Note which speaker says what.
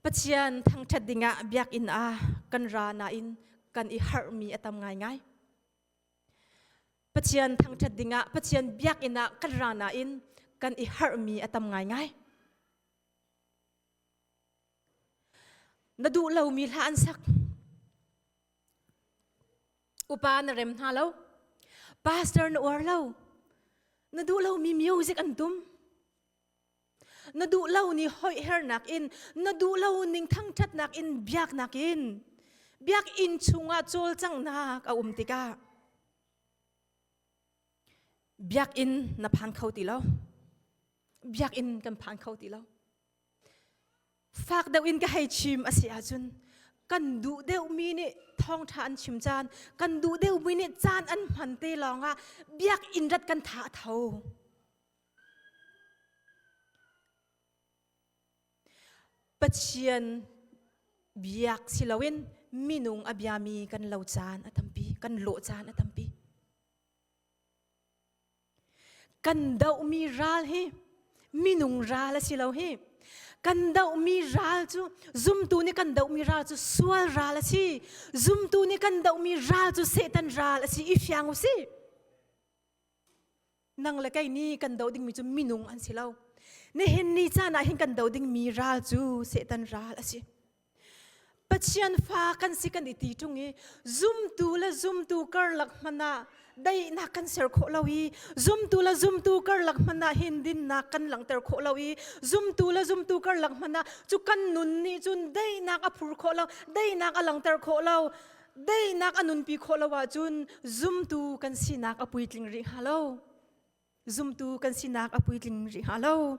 Speaker 1: Pathian thangṭhat dingah biakinn ah kan ra nain kan i harhmi a tam ngaingai. Pathian thangṭhat dingah Pathian biakinn ah kan ra nain kan i harhmi a tam ngaingai. Na duh lomi hla an sak. Upa na rem hna lo. Pastor na uar lo. Na duh lomi music an tum. na duh lo ni hoihernak in na duh lo ning thangthatnak in biaknak in biakinn chungah cawlcanghnak a um tikah biakinn na phan kho ti lo biakinn kan phan kho ti lo fak deuh in ka hei chim a si ahcun kan duh deuhmi nih thawngtha an chim caan kan duh deuhmi nih caan an hman te lawngah biakinn rat kan tha a tho Pathian biak siloin minung a biami kan lo caan a tampi, kan lawh caan a tampi. Kan dohmi ral hi minung ral a si lo hi. Kan dohmi ral cu zumtu nih kan dohmi ral cu sual ral a si. Zumtu nih kan dohmi ral cu Satan ral a si. I fiang u si. nang le kei ni kan do dingmi cu minung an si lo nihin ni caan ah hin kan do dingmi ral cu setan ral a si pathian fa kan si kan i ti ṭung i zumtu le zumtu karlak hmanh ah daihnak kan ser khawh lo i zumtu le zumtu karlak hmanh ah hin dinnak kan langhter khawh lo i zumtu le zumtu karlak hmanh ah cu kan nun nih cun daihnak a phur khawh lo daihnak a langhter khawh lo Deinak a nunpi khawh lo ahcun zumtu kan sinak a puitling rih hnga lo. Zumtu kan sinak a puitling rih hnga lo.